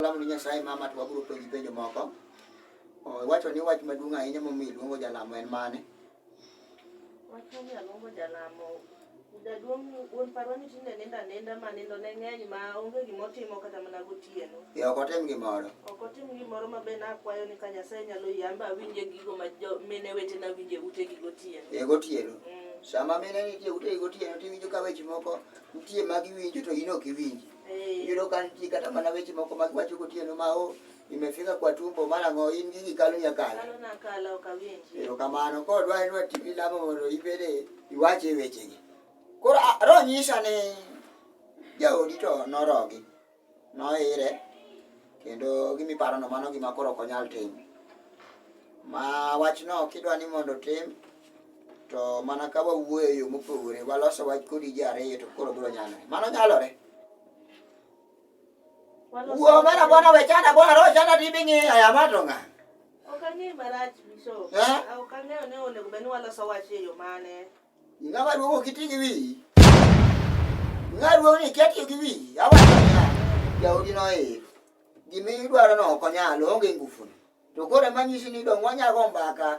Salamu ni Nyasaye mama to wabiro penji penjo moko. Wacho ni wach maduong' ahinya momiyo iluongo jalamo en mane? Wach momiyo aluongo jalamo jaduong' wuon parwa ni tinde nindo aninda ma nindo ne ng'eny ma onge gima otimo kata mana gotieno. Ee ok otim gimoro. Ok otim gimoro ma be nakwayo ni ka Nyasaye nyalo yamba awinje gigo ma mine wetena winje utegi gotieno. Ee gotieno. Mm. Sama mine nitie utegi gotieno tiwinjo ka weche moko nitie ma giwinjo to in ok iwinji. Eh. Yudo ka nitie kata mana weche moko ma giwacho gotieno ma o imefika kwa tumbo mara ng'o in gigi kalo nyakalo. Kalo na kala ok awinji. Erokamano koro dwa en watimi lamo mondo ibede iwache e wechegi. Koro a- roho nyisa ni jaodi to norogi noire kendo gimi parono mano gima koro ok onyal timo ma wachno kidwa ni mondo otim to mana ka wawuoyo e yo mopogore waloso wach kodi ji ariyo to koro biro nyalore mano nyalore wuo mena bwana wechana bwana roho chana tibing'i ayama to ng'a ok ang'e marach biso eh? ah, ok ang'eyo ni onego bed ni waloso wach e yo mane ng'ama duogo kiti gi wi ng'a duogo ni kiatiyo gi wi awacho niya jaodi noir gima idwaro no ok onyal oonge ngufuni to koro emanyisi ni dong wanyago mbaka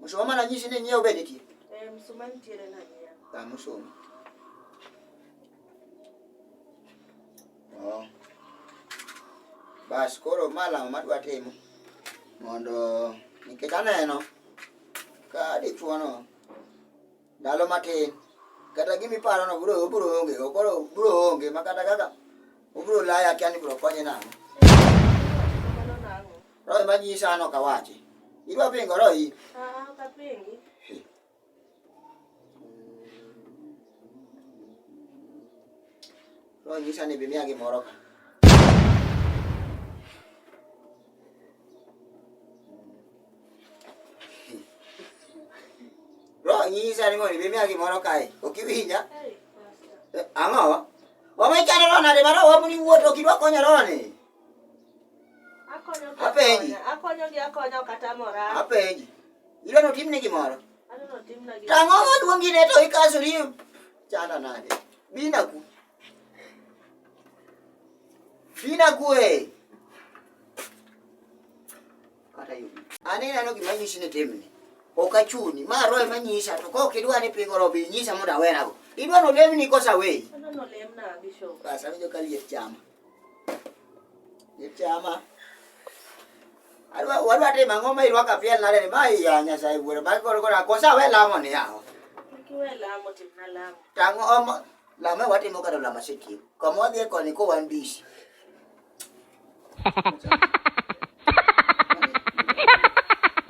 Musoma mana nyisi ni nyiewo be nitie. Eh, msuma nitiere na nyiewo. Ah, musoma. Oh. Bas koro ma lamo madwa timo mondo nikech aneno ka dichuono ndalo matin kata gima iparono bro obro onge koro obro onge ma kata kaka obro laya akia ni bro konye nang'o Roho ema nyisa an ok awachi. Idwa pingo roho in? Ah, ok apingi. Roho nyisa ni bimiya gimoro ka. Roho nyisa ni mondo bimiya gimoro kae. Ok iwinja? Hey, Pastor. Ang'o? Wamechano roho nade ma roho wabuni wuoto kidwa konyo roho ni? Apenji. Akonyogi akonya ok atamora. Apenji. Ilo no timni gimoro. Ano no timna gimoro. Tang'o maduongi ne to ikasori chana nade. Bina ku. Bina ku e. Kata yubi. Ani neno gima nyisi ni timni. Ok achuni. Ma roe manyisa to kok idwa ni pingo robi nyisa mondo awerago. Idwa no lemni kosa weyi. Ano no lemna bishop. Basa winjo ka liet chama. Ichama. Alwa wadwa timo ang'o ma irwako apiel nade ni ma iya Nyasaye wuoro ma koro koro kosa we lamo ni yawo. Kiwe lamo timna lamo. Tango omo lamo watimo kata lamo sitio. Kama wadhi e koni ko wan busy.